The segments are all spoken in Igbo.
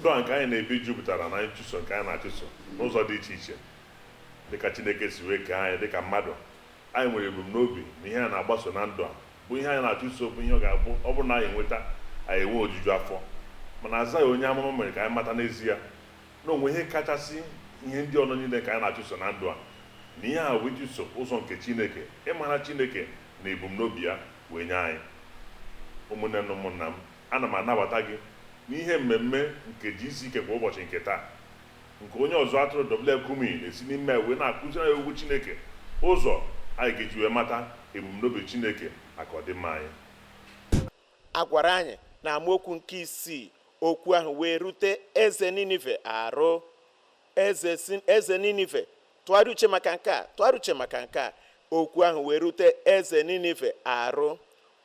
ndụ a nke anyị na-ebi jupụtara na nchụso nke anyị na-achụso n'ụzọ dị iche iche dịka Chineke si wee kee anyị dịka mmadụ anyị nwere ebumnobi na ihe anyị na-agbaso na ndụ a bụ ihe anyị na-achụso bụ ihe ọ ga-abụ ọ bụrụ na anyị nweta anyị enwe ojuju afọ mana Aịzaya onye amụma mere ka anyị mata n'ezie na o nwe ihe kachasị ihe ndị ahụ niile ka anyị na-achụso na ndụ a na ihe a bụ ịchụso ụzọ nke Chineke ịmara Chineke na ebumnobi ya wee nye anyị ụmụnne na ụmụnna m ana m anabata gị n'ihe mmemme nke GCK kwa ụbọchị nke taa nke onye ọzụzụ atụrụ W.F. Kumuyi na-esi n'ime ya wee na-akụziri anyị okwu Chineke ụzọ anyị ga-eji wee mata ebumnobi Chineke maka ọdịmma anyị A gwara anyị na amaokwu nke isii okwu ahụ wee rute eze Ninive arụ. Eze Ninive tụgharịa uche maka nke a tụgharịa uche maka nke a okwu ahụ wee rute eze Ninive arụ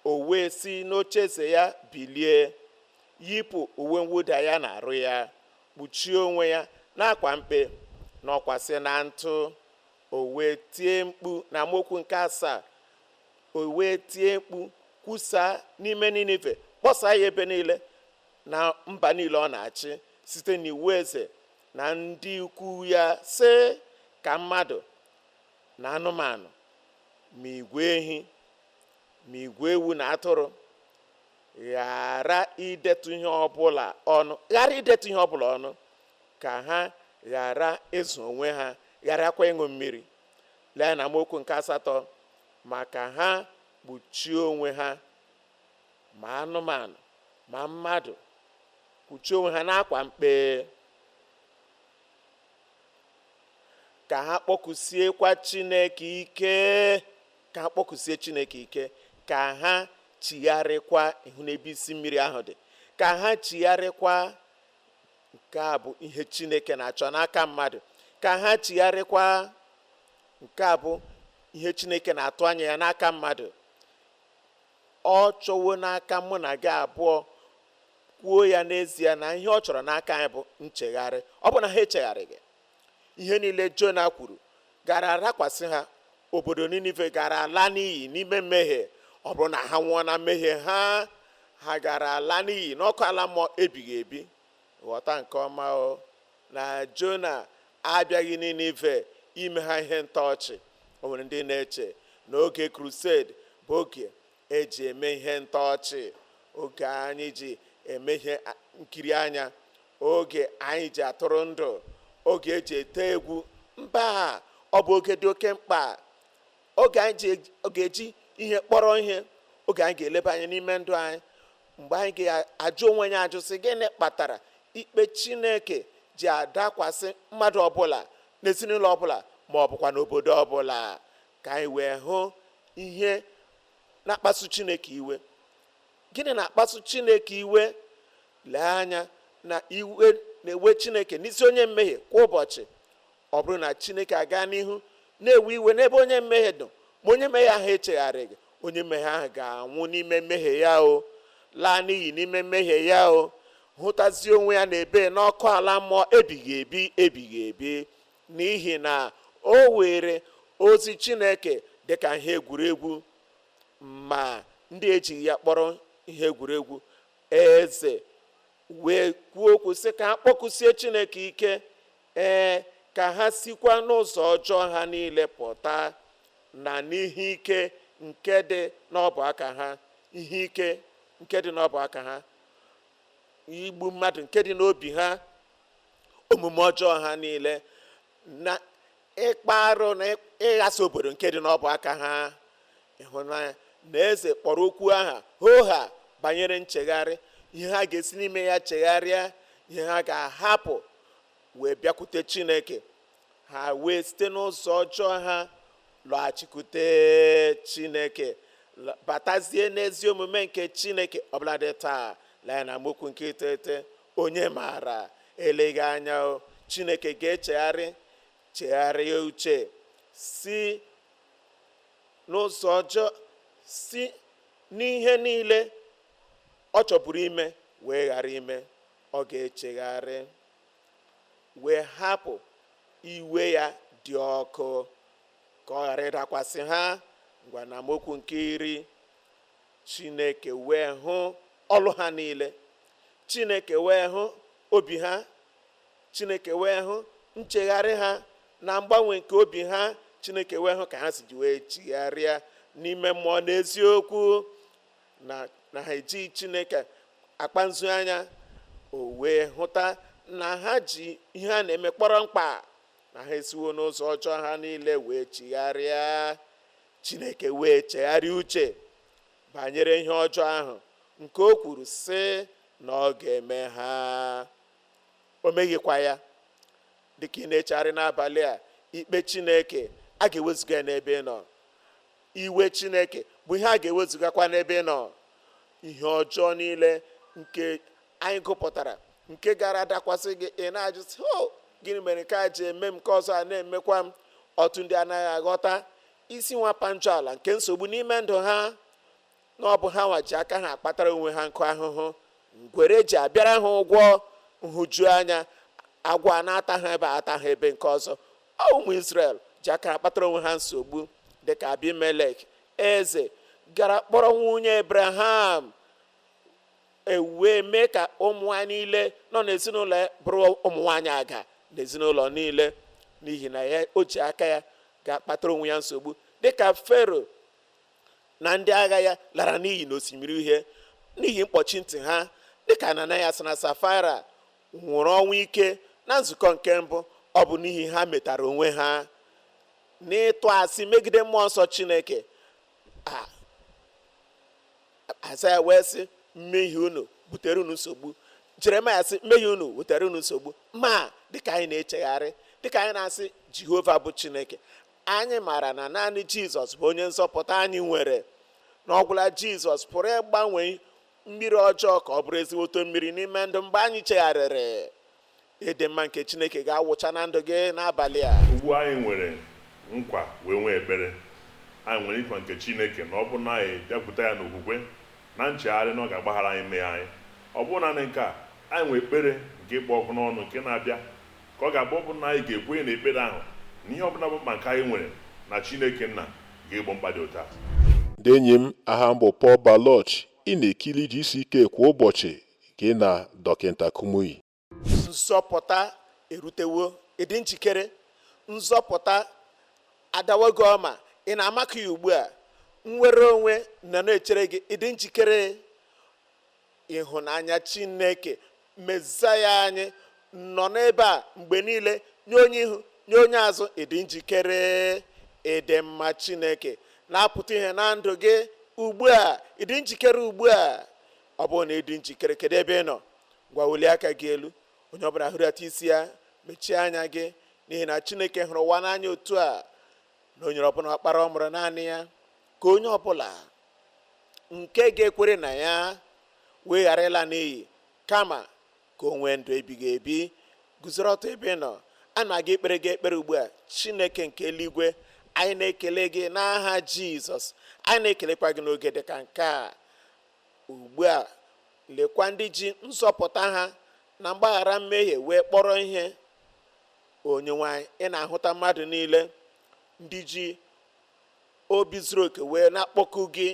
o wee si n'ocheeze ya bilie yipụ uwe mwụda ya na arụ ya kpuchie onwe ya n'akwa mkpe nọkwasị na ntụ O wee tie mkpu na amaokwu nke asaa o wee tie mkpu kwusaa n'ime Ninive kpọsaa ya ebe niile na mba niile ọ na-achị site n'iwu eze na ndị ukwu ya sị ka mmadụ na anụmanụ ma igwe ehi ma igwe ewu na atụrụ ghara idetu ihe ọbụla ọnụ ghara idetu ihe ọbụla ọnụ ka ha ghara ịzụ onwe ha gharakwa ịṅụ mmiri lee na amaokwu nke asatọ ma ka ha kpuchie onwe ha ma anụmanụ ma mmadụ kpuchie onwe ha n'akwa mkpe ka ha kpọkusiekwa chineke ike ka ha kpọkusie chineke ike ka ha chigharịkwa ihu n'ebe isi mmiri ahụ dị ka ha chigharịkwa nke a bụ ihe chineke na-achọ n'aka mmadụ ka ha chigharịkwa nke a bụ ihe chineke na-atụ anya ya n'aka mmadụ ọ chọwo n'aka mụ na gị abụọ kwuo ya n'ezie na ihe ọ chọrọ n'aka anyị bụ nchegharị ọ bụ na ha echegharịghị ihe niile jona kwuru gara adakwasị ha obodo ninive gara ala n'iyi n'ime mmehie ọ bụrụ na ha nwụọ na mmehie ha ha gara ala n'iyi n'ọkụ ala mmụọ ebighị ebi ghọta nke ọma o na jona abịaghị ninive ime ha ihe ntọ ọchị o nwere ndị na-eche na oge crusade bụ oge eji eme ihe ntọọchị oge anyị ji eme ihe nkiri anya oge anyị ji atụrụ ndụ oge eji ete egwu mba ọ bụ oge dị oke mkpa oge anyị ga-eji ihe kpọrọ ihe oge anyị ga-eleba anya n'ime ndụ anyị mgbe anyị ga-ajụ onwe anyị ajụ sị gịnị kpatara ikpe chineke ji adakwasị mmadụ ọbụla n'ezinụlọ ọbụla ma ọ bụkwa n'obodo ọbụla ka anyị wee hụ ihe na-akpasu chineke iwe gịnị na-akpasu chineke iwe lee anya na iwe na-ewe chineke n'isi onye mmehie kwa ụbọchị ọ bụrụ na chineke aga n'ihu na-ewe iwe n'ebe onye mmehie nọ ma onye mmehie ahụ echegharịghị onye mmehie ahụ ga-anwụ n'ime mmehie ya ọ laa n'iyi n'ime mmehie ya ọ hụtazie onwe ya na-ebe n'ọkụ ala mmụọ ebighị ebi ebighị ebi n'ihi na o were ozi chineke dị ka ihe egwuregwu ma ndị ejighị ya kpọrọ ihe egwuregwu eze wee kwuo okwu sị ka ha kpọkụsie chineke ike ee ka ha sikwa n'ụzọ ọjọọ ha niile pụta na n'ihe ike nke dị n'ọbụ aka ha ihe ike nke dị n'ọbụ aka ha igbu mmadụ nke dị n'obi ha omume ọjọọ ha niile na ịkpa arụ na ịghasa obodo nke dị n'ọbụ aka ha ị hụ na eze kpọrọ okwu aha hoha banyere nchegharị ihe ha ga-esi n'ime ya chegharịa ihe ha ga-ahapụ wee bịakwute chineke ha wee site n'ụzọ ọjọọ ha lọghachikwute chineke la- batazie n'ezi omume nke chineke ọbụladị taa lee n'amaokwu nke iteghete Onye maara, eleghị anya Chineke ga-echegharị chegharịa uche si n'ụzọ ọjọọ si n'ihe niile ọ chọburu ime wee ghara ime ọ ga-echegharị wee hapụ iwe ya dị ọkụ ka ọ ghara ịdakwasị ha ngwa n'amaokwu nke iri Chineke wee hụ ọlụ ha niile. Chineke wee hụ obi ha. Chineke wee hụ nchegharị ha na mgbanwe nke obi ha. Chineke wee hụ ka ha si ji wee chigharịa n'ime mmụọ na eziokwu na ha ejighị Chineke akpa nzu anya. O wee hụta na ha ji ihe a na-eme kpọrọ mkpa na ha esiwo n'ụzọ ọjọọ ha niile wee chigharịa. Chineke wee chegharịa uche banyere ihe ọjọọ ahụ nke o kwuru sị na ọ ga-eme ha o meghịkwa ya dịka ị na-echegharị n'abalị a ikpe Chineke a ga-ewezuga n'ebe ị nọ iwe Chineke bụ ihe a ga-ewezugakwa n'ebe ị nọ ihe ọjọọ niile nke anyị gụpụtara nke gara dakwasị gị ị na-ajụ sị ọ gịnị mere nke a ji eme m nke ọzọ a na-emekwa m ọtụtụ ndị anaghị aghọta isi nwa panchọ ala nke nsogbu n'ime ndụ ha na ọ bụ ha nwa ji aka ha akpatara onwe ha nkụ ahụhụ ngwere ji abịara ha ụgwọ nhụjuanya agwọ na-ata ha ebe a ata ha ebe nke ọzọ ọ ụmụ Israel ji aka ha kpatara onwe ha nsogbu dịka Abimelek eze gara kpọrọ nwunye Abraham e wee mee ka ụmụ nwaanyị niile nọ n'ezinụlọ ya bụrụ ụmụ nwaanyị aga n'ezinụlọ niile n'ihi na ya o ji aka ya gaa kpatara onwe ya nsogbu dịka fero na ndị agha ya lara n'iyi n'osimiri uhie n'ihi mkpọchi ntị ha dịka ananayas na safaira nwụrụ ọnwụ ike na nzukọ nke mbụ ọ bụ n'ihi ha metara onwe ha n'ịtụ asị megide mmụọ nsọ chineke aịzaya wee sị mmehie unu butere unu nsogbu jeremaya sị mmehie unu butere unu nsogbu ma dịka anyị na-echegharị dịka anyị na-asị jehova bụ chineke anyị maara na naanị jizọs bụ onye nzọpụta anyị nwere na ọ gwụla jizọs pụrụ ịgbanwe mmiri ọjọọ ka ọ bụrụ ezigboto mmiri n'ime ndụ mgbe anyị chegharịrị Ịdị mma nke Chineke ga-awụcha na ndụ gị n'abalị a. Ugbu a anyị nwere nkwa wee nwee ekpere, anyị nwere nkwa nke Chineke na ọ bụrụ na anyị bịakwute ya n'okwukwe na nchegharị na ọ ga-agbaghara anyị mmehie anyị. Ọ bụghị nanị nke a, anyị nwere ekpere nke kpụ ọkụ n'ọnụ nke na-abịa ka ọ ga-abụ ọ bụrụ na anyị ga-ekwenye na ekpere ahụ na ihe ọ bụla bụ mkpa nke anyị nwere na Chineke Nna ga-egbo mkpa dị otu a. Ndị enyi m, aha m bụ Paul Baloche, ị na-ekiri GCK kwa ụbọchị, gị na Dọkịta Kumuyi. nzọpụta erutewo ị dị njikere nzọpụta adawago ọma ị na-amaka ya ugbu a nnwere onwe nọ na-echere gị ị dị njikere ịhụnanya chineke mezaya anyị nọ n'ebe a mgbe niile nye onye ihu nye onye azụ ị dị njikere ịdị mma chineke na-apụta ihe na ndụ gị ugbu a ị dị njikere ugbu a ọ bụrụ na ị dị njikere kedu ebe ị nọ ngwa welie aka gị elu onye ọbụla hulata isi ya mechie anya gị n'ihi na chineke hụrụ ụwa n'anya otu a na o nyere ọbụna ọkpara ọ mụrụ naanị ya ka onye ọbụla nke ga-ekwere na ya wee ghara ịla n'iyi kama ka o nwee ndụ ebighị ebi guzoro ọtọ ebe ị nọ a na-aga ikpere gị ekpere ugbu a chineke nke eluigwe anyị na-ekele gị n'aha jizọs anyị na-ekelekwa gị n'oge dị ka nke a Ugbu a, lekwa ndị ji nzọpụta ha na mgbaghara mmehie wee kpọrọ ihe. Onyenwe anyị, ị na-ahụta mmadụ niile, ndị ji obi zuru oke wee na-akpọku gị,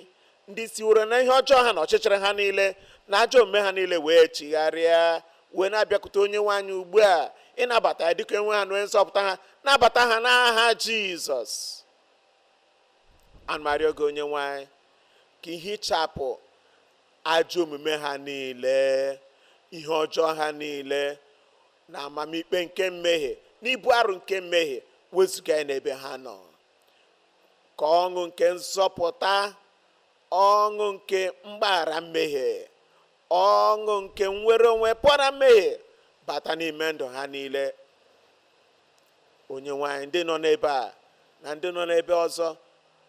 ndị siworo na ihe ọjọọ ha na ọchịchịrị ha niile na ajọ omume ha niile wee chigharịa wee na-abịakwute onyenwe anyị ugbu a ịnabata ya dịka onyenwe ha na onye nzọpụta ha nabata ha n'aha jizọs ana m arịọ gị onyenwe anyị ka i hichapụ ajọ omume ha niile ihe ọjọọ ha niile na amamikpe nke mmehie na ibu arụ nke mmehie wezuga ya n'ebe ha nọ ka ọṅụ nke nzọpụta ọṅụ nke mgbaghara mmehie ọṅụ nke nnwere onwe pụọ na mmehie bata n'ime ndụ ha niile onyenwe anyị ndị nọ n'ebe a na ndị nọ n'ebe ọzọ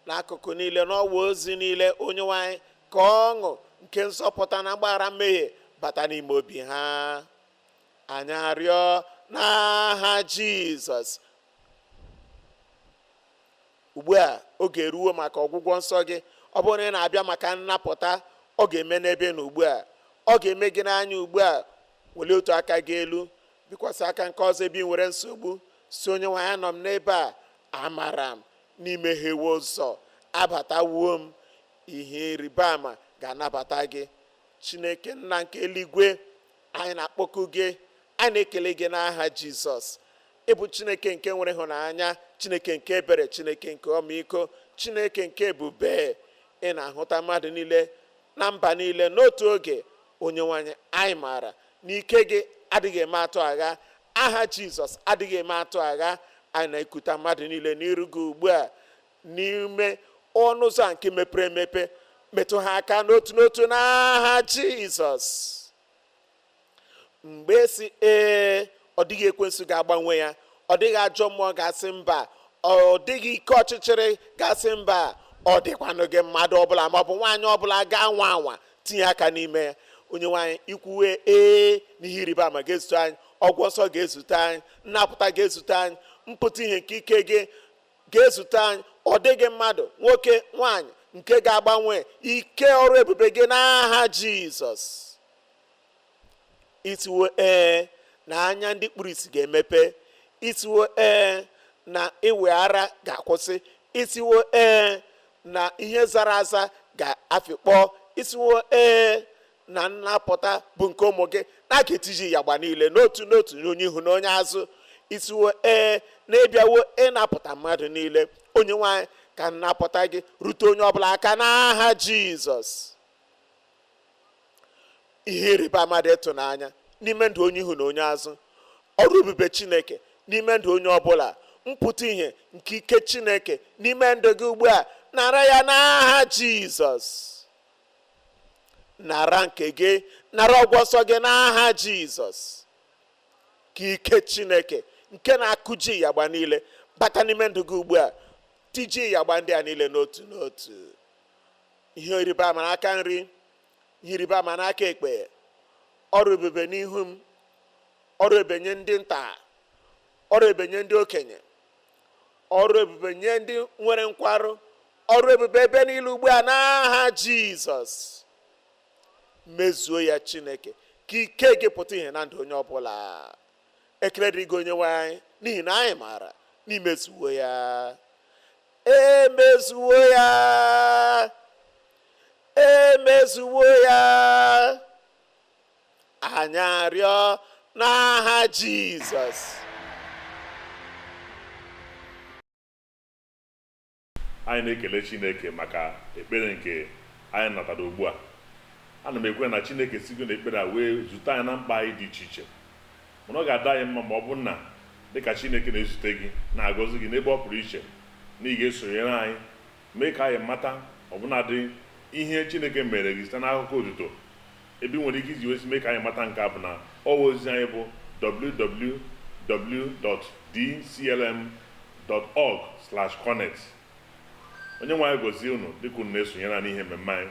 n'akụkụ niile n'ọwa ozi niile onyenwe anyị ka ọṅụ nke nzọpụta na mgbaghara mmehie bata n'ime obi ha anyị arịọ n'aha jizọs ugbu a oge eruwo maka ọgwụgwọ nsọ gị ọ bụrụ na ị na-abịa maka nnapụta ọ ga-eme n'ebe ị nọ ugbu a ọ ga-eme gị n'anya ugbu a welie otu aka gị elu bikwasị aka nke ọzọ ebe ị nwere nsogbu sị onyenwe anyị anọ m n'ebe a amara m na i meghewo ụzọ abatawo m ihe ịrịba ama ga-anabata gị chineke nna nke eluigwe anyị na-akpọku gị anyị na-ekele gị n'aha jizọs ị bụ chineke nke nwere ịhụnanya chineke nke ebere chineke nke ọmịiko chineke nke ebube ị na-ahụta mmadụ niile na mba niile n'otu oge onyenwe anyị anyị maara na ike gị adịghị eme atụ agha aha jizọs adịghị eme atụ agha anyị na-ekuta mmadụ niile n'iru gị ugbu a n'ime ọnụ ụzọ nke mepere emepe metụ ha aka n'otu n'otu n'aha jizọs mgbe ị sị ee ọ dịghị ekwensu ga-agbanwe ya ọ dịghị ajọ mmụọ ga-asị mba ọ dịghị ike ọchịchịrị ga-asị mba ọ dịkwanụghị mmadụ ọbụla maọbụ nwaanyị ọbụla ga-anwa anwa tinye aka n'ime ya onyenwe anyị i kwuwo ee n'ihe ịrịba ama ga-ezute anyị ọgwụgwọ nsọ ga-ezute anyị nnapụta ga-ezute anyị mpụta ihe nke ike gị ga-ezute anyị ọ dịghị mmadụ nwoke nwaanyị nke ga-agbanwe ike ọrụ ebube gị n'aha jizọs ị sịwo ee na anya ndị kpuru isi ga-emepe ị sịwo ee na ịwị ara ga-akwụsị ị sịwo ee na ihe zara aza ga-afịkpọ ị sịwo ee na nnapụta bụ nke ụmụ gị na a ga-etiji yagba niile n'otu n'otu onye ihu na onye azụ ị sịwo ee na ị bịawo ịnapụta mmadụ niile onyenwe anyị ka nnapụta gị rute onye ọbụla aka n'aha jizọs ihe ịrịba ama dị ịtụnanya n'ime ndụ onye ihu na onye azụ ọrụ ebube chineke n'ime ndụ onye ọbụla mpụta ihe nke ike chineke n'ime ndụ gị ugbu a nara ya n'aha jizọs nara nke gị nara ọgwụgwọ nsọ gị n'aha jizọs ka ike chineke nke na-akụji yagba niile bata n'ime ndụ gị ugbu a tiji yagba ndị a niile n'otu n'otu ihe ịrịba ama n'aka nri ihe ịrịba ama n'aka ekpe ọrụ ebube n'ihu m ọrụ ebube nye ndị nta ọrụ ebube nye ndị okenye ọrụ ebube nye ndị nwere nkwarụ ọrụ ebube ebe niile ugbu a n'aha jizọs mezuo ya chineke ka ike gị pụta ihe na ndụ onye ọbụla ekele dịrị gị onyenwe anyị n'ihi na anyị maara na i mezuwo ya emezuwo ya emezuwo ya anyị arịọ n'aha Jizọs anyị na-ekele Chineke maka ekpere nke anyị natara ugbu a ana m ekwe na Chineke sigo na ekpere a wee zute anyị na mkpa anyị dị iche iche Mana ọ ga-adị anyị mma ma ọ bụrụ na, dị ka Chineke na-ezute gị, na-agọzi gị n'ebe ọ pụrụ iche, na ị ga-esonyere anyị mee ka anyị mata ọbụnadị ihe Chineke meere gị site n'akụkọ otuto. Ebe i nwere ike iji wezie mee ka anyị mata nke a bụ na ọwa ozi anyị bụ www.dclm.org/connect. Onyenwe anyị gọzie unu dịka unu na-esonyere anyị n'ihe mmemme anyị.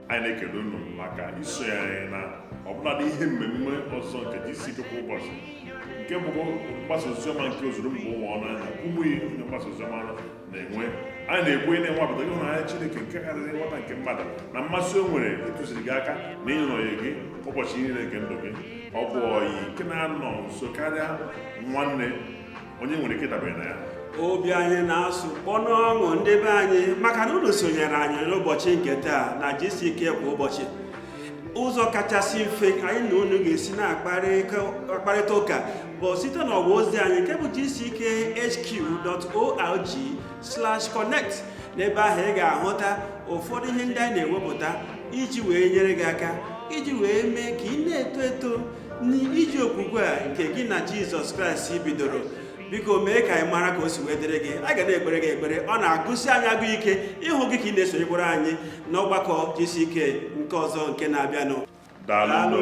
anyị na-ekele unu maka isonye anyị na ọbụladị ihe mmemme ọzọ nke GCK kwa ụbọchị nke bụkwa mgbasa oziọma nke ozuru mba ụwa ọnụ anyị na Kumuyi onye mgbasa oziọma na-enwe anyị na-ekwenye na ị nwapụtago ịhụnanya Chineke nke karịrị nghọta nke mmadụ na mmasị o nwere ịtụziri gị aka na ịnọnyere gị ụbọchị niile nke ndụ gị ọ bụ ọyị nke na-anọ nso karịa nwanne onye i nwere ike ịdabere na ya obi anyị na-asụ kpọ n'ọṅụ ndị be anyị maka na unu sonyere anyị n'ụbọchị nke taa na GCK kwa ụbọchị ụzọ kachasị mfe anyị na unu ga-esi na-akparịta ụka bụ site n'ọwa ozi anyị nke bụ gckhq.org/connect n'ebe ahụ ị ga-ahụta ụfọdụ ihe ndị anyị na-ewepụta iji wee nyere gị aka iji wee mee ka ị na-eto eto n'ije okwukwe a nke gị na jizọs kraịst bidoro biko mee ka anyị mara ka o si wee dịrị gị a ga na-ekpere gị ekpere ọ na-agụsi anyị agụụ ike ịhụ gị ka ị na-esonyekwara anyị n'ọgbakọ GCK nke ọzọ nke na-abịanụ daalụ